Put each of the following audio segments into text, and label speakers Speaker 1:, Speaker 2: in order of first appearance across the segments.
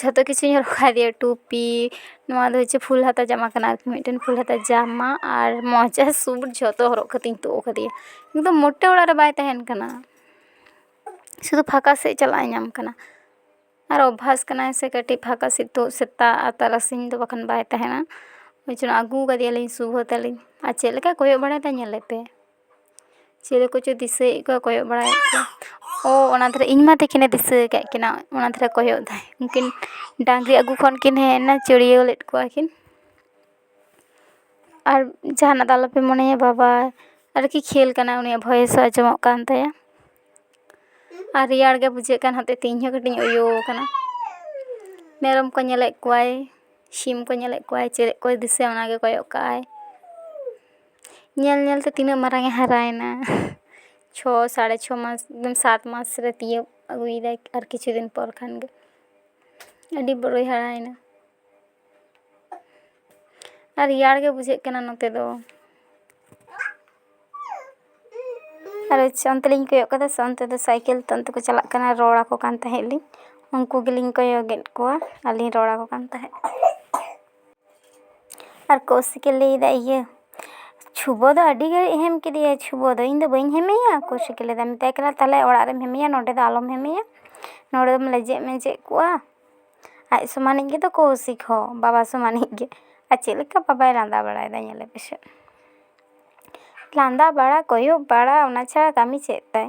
Speaker 1: ᱡᱷᱚᱛᱚ ᱠᱤᱪᱷᱩᱧ ᱦᱚᱨᱚᱜ ᱠᱟᱣᱫᱮᱭᱟ ᱴᱩᱯᱤ ᱱᱚᱣᱟ ᱫᱚ ᱦᱚᱪᱪᱷᱮ ᱯᱷᱩᱞ ᱦᱟᱛᱟ ᱡᱟᱢᱟ ᱠᱟᱱᱟ ᱟᱨᱠᱤ ᱢᱤᱫᱴᱮᱱ ᱯᱷᱩᱞ ᱦᱟᱛᱟ ᱡᱟᱢᱟ ᱟᱨ ᱢᱚᱡᱟ ᱥᱩᱴ ᱡᱷᱚᱛᱚ ᱦᱚᱨᱚᱜ ᱠᱟᱛᱮᱧ ᱛᱩᱫ ᱠᱟᱫᱮᱭᱟ ᱠᱤᱱᱛᱩ ᱢᱳᱴᱮ ᱚᱲᱟᱜ ᱨᱮ ᱵᱟᱭ ᱛᱟᱦᱮᱱ ᱠᱟᱱᱟ ᱥᱩᱫᱷᱩ ᱯᱷᱟᱸᱠᱟ ᱥᱮᱫ ᱪᱟᱞᱟᱜ ᱮ ᱧᱟᱢ ᱠᱟᱱᱟ ᱟᱨ ᱚᱵᱵᱷᱟᱥ ᱠᱟᱱᱟᱭ ᱥᱮ ᱠᱟᱹᱴᱤᱡ ᱯᱷᱟᱸᱠᱟ ᱥᱮᱫ ᱛᱩᱫ ᱥᱮᱛᱟᱜ ᱟᱨ ᱛᱟᱨᱟᱥᱤᱧ ᱫᱚ ᱵᱟᱠᱷᱟᱱ ᱵᱟᱭ ᱛᱟᱦᱮᱱᱟ ᱚᱱᱟ ᱛᱮ ᱟᱹᱜᱩ ᱠᱟᱫᱮᱭᱟᱞᱤᱧ ᱥᱩᱵᱷᱚ ᱛᱟᱹᱞᱤᱧ ᱟᱨ ᱪᱮᱫ ᱞᱮᱠᱟᱭ ᱠᱚᱭᱚᱜ ᱵᱟᱲᱟᱭᱮᱫᱟ ᱧᱮᱞᱮᱯᱮ ᱪᱤᱞᱤ ᱠᱚᱪᱚᱭ ᱫᱤᱥᱟᱹᱭᱮᱫ ᱠᱚᱣᱟ ᱠᱚᱭᱚᱜ ᱵᱟᱲᱟᱭᱮᱫ ᱠᱚᱣᱟ ᱚ ᱚᱱᱟ ᱫᱷᱟᱨᱮ ᱤᱧ ᱢᱟ ᱛᱤᱠᱤᱱᱮ ᱫᱤᱥᱟᱹ ᱟᱠᱟᱫ ᱠᱤᱱᱟ ᱚᱱᱟ ᱫᱷᱟᱨᱮ ᱠᱚᱭᱚᱜ ᱫᱟᱭ ᱩᱱᱠᱤᱱ ᱰᱟᱝᱨᱤ ᱟᱜᱩ ᱠᱷᱚᱱ ᱠᱤᱱ ᱦᱮᱡ ᱮᱱᱟ ᱪᱟᱹᱲᱭᱟᱹᱣ ᱞᱮᱫ ᱠᱚᱣᱟ ᱠᱤᱱ ᱟᱨ ᱡᱟᱦᱟᱱᱟᱜ ᱫᱚ ᱟᱞᱚᱯᱮ ᱢᱚᱱᱮᱭᱟ ᱵᱟᱵᱟ ᱟᱨᱠᱤ ᱠᱷᱮᱞ ᱠᱟᱱᱟᱭ ᱩᱱᱤᱭᱟᱜ ᱵᱷᱚᱭᱮᱥ ᱦᱚᱸ ᱟᱸᱡᱚᱢᱚᱜ ᱠᱟᱱ ᱛᱟᱭᱟ ᱟᱨ ᱨᱮᱭᱟᱲ ᱜᱮ ᱵᱩᱡᱷᱟᱹᱜ ᱠᱟᱱ ᱦᱚᱛᱮᱡ ᱛᱮ ᱤᱧ ᱦᱚᱸ ᱠᱟᱹᱴᱤᱡ ᱤᱧ ᱩᱭᱩ ᱟᱠᱟᱱᱟ ᱢᱮᱨᱚᱢ ᱠᱚ ᱧᱮᱞᱮᱫ ᱠᱚᱣᱟᱭ ᱥᱤᱢ ᱠᱚ ᱧᱮᱞᱮᱫ ᱠᱚᱣᱟᱭ ᱪᱮᱫ ᱠᱚᱭ ᱫᱤᱥᱟᱹᱭᱟ ᱚᱱᱟᱜᱮ ᱠᱚᱭᱚᱜ ᱠᱟᱜᱼᱟᱭ ᱧᱮᱞ ᱧᱮᱞ ᱛᱮ ᱛᱤᱱᱟᱹᱜ ᱢᱟᱨᱟᱝ ᱮ ᱦᱟᱨᱟᱭᱮᱱᱟ ᱪᱷᱚ ᱥᱟᱲᱮ ᱪᱷᱚ ᱢᱟᱥ ᱮᱠᱫᱚᱢ ᱥᱟᱛ ᱢᱟᱥ ᱨᱮ ᱛᱤᱭᱳᱜ ᱟᱹᱜᱩᱭᱮᱫᱟᱭ ᱟᱨ ᱠᱤᱪᱷᱩ ᱫᱤᱱ ᱯᱚᱨ ᱠᱷᱟᱱ ᱜᱮ ᱟᱹᱰᱤ ᱵᱚᱲᱚᱭ ᱦᱟᱨᱟᱭᱮᱱᱟ ᱟᱨ ᱨᱮᱭᱟᱲ ᱜᱮ ᱵᱩᱡᱷᱟᱹᱜ ᱠᱟᱱᱟ ᱱᱚᱛᱮ ᱫᱚ ᱟᱨ ᱦᱚᱪᱪᱷᱮ ᱚᱱᱛᱮ ᱞᱤᱧ ᱠᱚᱭᱚᱜ ᱠᱟᱫᱟ ᱥᱮ ᱚᱱᱛᱮ ᱫᱚ ᱥᱟᱭᱠᱮᱞ ᱛᱮ ᱚᱱᱛᱮ ᱠᱚ ᱪᱟᱞᱟᱜ ᱠᱟᱱᱟ ᱨᱚᱲ ᱟᱠᱚ ᱠᱟᱱ ᱛᱟᱦᱮᱸᱜ ᱞᱤᱧ ᱩᱱᱠᱩ ᱜᱮᱞᱤᱧ ᱠᱚᱭᱚᱜᱮᱜ ᱠᱚᱣᱟ ᱟᱨᱞᱤᱧ ᱨᱚᱲ ᱟᱠᱚ ᱠᱟᱱ ᱛᱟᱦᱮᱸᱜ ᱟᱨ ᱠᱳᱣᱥᱤᱠᱮ ᱞᱟᱹᱭᱫᱟ ᱤᱭᱟᱹ ᱪᱷᱩᱵᱳ ᱫᱚ ᱟᱹᱰᱤ ᱜᱷᱟᱹᱲᱤᱡ ᱮ ᱦᱮᱢ ᱠᱮᱫᱮᱭᱟ ᱪᱷᱩᱵᱳ ᱫᱚ ᱤᱧ ᱫᱚ ᱵᱟᱹᱧ ᱦᱮᱢᱮᱭᱟ ᱠᱳᱣᱥᱤᱠᱮ ᱞᱟᱹᱭᱫᱟ ᱢᱮᱛᱟᱭ ᱠᱟᱱᱟ ᱛᱟᱦᱚᱞᱮ ᱚᱲᱟᱜ ᱨᱮᱢ ᱦᱮᱢᱮᱭᱟ ᱱᱚᱰᱮ ᱫᱚ ᱟᱞᱚᱢ ᱦᱮᱢᱮᱭᱟ ᱱᱚᱰᱮ ᱫᱚᱢ ᱞᱮᱡᱮᱫ ᱢᱮᱡᱮᱫ ᱠᱚᱜᱼᱟ ᱟᱡ ᱥᱚᱢᱟᱱᱤᱡ ᱜᱮᱛᱚ ᱠᱳᱣᱥᱤᱠ ᱦᱚᱸ ᱵᱟᱵᱟ ᱥᱚᱢᱟᱱᱤᱡ ᱜᱮ ᱟᱨ ᱪᱮᱫ ᱞᱮᱠᱟ ᱵᱟᱵᱟᱭ ᱞᱟᱸᱫᱟ ᱵᱟᱲᱟᱭᱮᱫᱟ ᱧᱮᱞᱮ ᱯᱮᱥᱮ ᱞᱟᱸᱫᱟ ᱵᱟᱲᱟ ᱠᱚᱭᱚᱜ ᱵᱟᱲᱟ ᱚᱱᱟ ᱪᱷᱟᱲᱟ ᱠᱟᱹᱢᱤ ᱪᱮᱫ ᱛᱟᱭ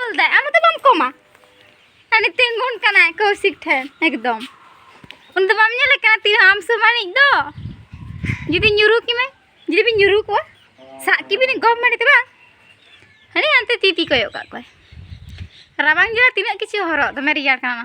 Speaker 2: ᱚᱞ ᱫᱟᱭ ᱟᱢ ᱫᱚ ᱵᱟᱢ ᱠᱚᱢᱟ ᱟᱹᱱᱤ ᱛᱤᱸᱜᱩᱱ ᱠᱟᱱᱟ ᱠᱚᱥᱤᱠ ᱴᱷᱮᱱ ᱮᱠᱫᱚᱢ ᱩᱱ ᱫᱚ ᱵᱟᱢ ᱧᱮᱞ ᱠᱟᱱᱟ ᱛᱤᱱᱟᱹᱜ ᱟᱢ ᱥᱚᱢᱟᱱᱤᱡ ᱫᱚ ᱡᱩᱫᱤ ᱧᱩᱨᱩ ᱠᱤᱢᱮ ᱡᱩᱫᱤ ᱵᱤᱱ ᱧᱩᱨᱩ ᱠᱚᱣᱟ ᱥᱟᱵ ᱠᱤᱵᱤᱱ ᱜᱚᱢ ᱢᱟᱹᱰᱤ ᱛᱮ ᱵᱟᱝ ᱦᱟᱹᱱᱤ ᱦᱟᱱᱛᱮ ᱛᱤ ᱛᱤ ᱠᱚᱭᱚᱜ ᱠᱟᱜ ᱠᱚᱣᱟᱭ ᱨᱟᱵᱟᱝ ᱡᱚᱨᱟ ᱛᱤᱱᱟᱹᱜ ᱠᱤᱪᱷᱩ ᱦᱚᱨᱚᱜ ᱫᱚᱢᱮ ᱨᱮᱭᱟᱲ ᱠᱟᱱᱟ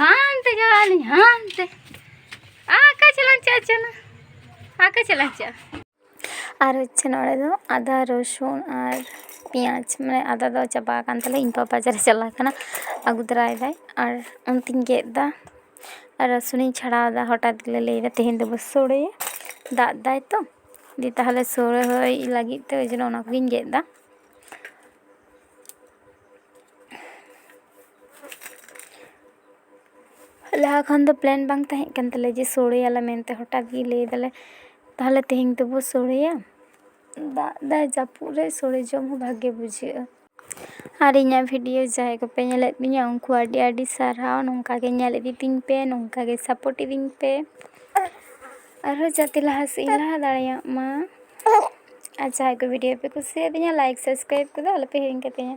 Speaker 2: ᱦᱟᱱᱛᱮ ᱪᱟᱞᱟᱜ ᱟᱹᱞᱤᱧ ᱦᱟᱱᱛᱮ ᱟᱠᱟ ᱪᱟᱞᱟᱜ ᱪᱮᱫ ᱪᱟᱞᱟᱜ ᱟᱠᱟ ᱪᱟᱞᱟᱜ ᱪᱮᱫ ᱟᱨ
Speaker 1: ᱦᱚᱪᱪᱷᱮ ᱱᱚᱰᱮ ᱫᱚ ᱟᱫᱟ ᱨᱚᱥᱩᱱ ᱟᱨ ᱯᱮᱸᱭᱟᱡᱽ ᱢᱟᱱᱮ ᱟᱫᱟ ᱫᱚ ᱪᱟᱵᱟ ᱟᱠᱟᱱ ᱛᱟᱞᱮ ᱤᱧ ᱵᱟᱵᱟ ᱵᱟᱡᱟᱨᱮ ᱪᱟᱞᱟᱣ ᱟᱠᱟᱱᱟ ᱟᱹᱜᱩ ᱛᱚᱨᱟᱭᱮᱫᱟᱭ ᱟᱨ ᱚᱱᱛᱮᱧ ᱜᱮᱫ ᱮᱫᱟ ᱟᱨ ᱨᱚᱥᱩᱱᱤᱧ ᱪᱷᱟᱲᱟᱣᱫᱟ ᱦᱚᱴᱟᱛ ᱜᱮᱞᱮ ᱞᱟᱹᱭᱫᱟ ᱛᱮᱦᱮᱧ ᱫᱚᱵᱚ ᱥᱳᱲᱮᱭᱟ ᱫᱟᱜ ᱫᱟᱭ ᱛᱚ ᱫᱤ ᱛᱟᱦᱚᱞᱮ ᱥᱳᱲᱮ ᱦᱩᱭ ᱞᱟᱹᱜᱤᱫ ᱛᱮ ᱳᱭ ᱡᱚᱱᱱᱚ ᱚᱱᱟ ᱠᱚᱜᱮᱧ ᱜᱮᱫ ᱮᱫᱟ ᱞᱟᱦᱟ ᱠᱷᱚᱱ ᱫᱚ ᱯᱞᱮᱱ ᱵᱟᱝ ᱛᱟᱦᱮᱸ ᱠᱟᱱ ᱛᱟᱞᱮᱭᱟ ᱡᱮ ᱥᱳᱲᱮᱭᱟᱞᱮ ᱢᱮᱱᱛᱮ ᱦᱚᱴᱟᱛ ᱜᱮ ᱞᱟᱹᱭ ᱫᱟᱞᱮ ᱛᱟᱦᱚᱞᱮ ᱛᱮᱦᱮᱧ ᱫᱚᱵᱚ ᱥᱳᱲᱮᱭᱟ ᱫᱟᱜ ᱫᱟᱭ ᱡᱟᱹᱯᱩᱫ ᱨᱮ ᱥᱳᱲᱮ ᱡᱚᱢ ᱦᱚᱸ ᱵᱷᱟᱜᱮ ᱵᱩᱡᱷᱟᱹᱜᱼᱟ ᱟᱨ ᱤᱧᱟᱹᱜ ᱵᱷᱤᱰᱤᱭᱳ ᱡᱟᱦᱟᱸᱭ ᱠᱚᱯᱮ ᱧᱮᱞᱮᱫ ᱛᱤᱧᱟᱹ ᱩᱱᱠᱩ ᱟᱹᱰᱤ ᱟᱹᱰᱤ ᱥᱟᱨᱦᱟᱣ ᱱᱚᱝᱠᱟ ᱜᱮ ᱧᱮᱞ ᱤᱫᱤ ᱛᱤᱧ ᱯᱮ ᱱᱚᱝᱠᱟ ᱜᱮ ᱥᱟᱯᱳᱨᱴ ᱤᱫᱤᱧ ᱯᱮ ᱟᱨᱦᱚᱸ ᱡᱟᱛᱮ ᱞᱟᱦᱟ ᱥᱮᱫ ᱤᱧ ᱞᱟᱦᱟ ᱫᱟᱲᱮᱭᱟᱜ ᱢᱟ ᱟᱨ ᱡᱟᱦᱟᱸᱭ ᱠᱚ ᱵᱷᱤᱰᱤᱭᱳ ᱯᱮ ᱠᱩᱥᱤᱭᱟᱫᱤᱧᱟ ᱞᱟᱭᱤᱠ ᱥᱟᱵᱥᱠᱨᱟᱭᱤᱵ ᱠᱚᱫᱚ ᱟᱞᱚᱯᱮ ᱦᱤᱲᱤᱧ ᱠᱟᱛᱤᱧᱟ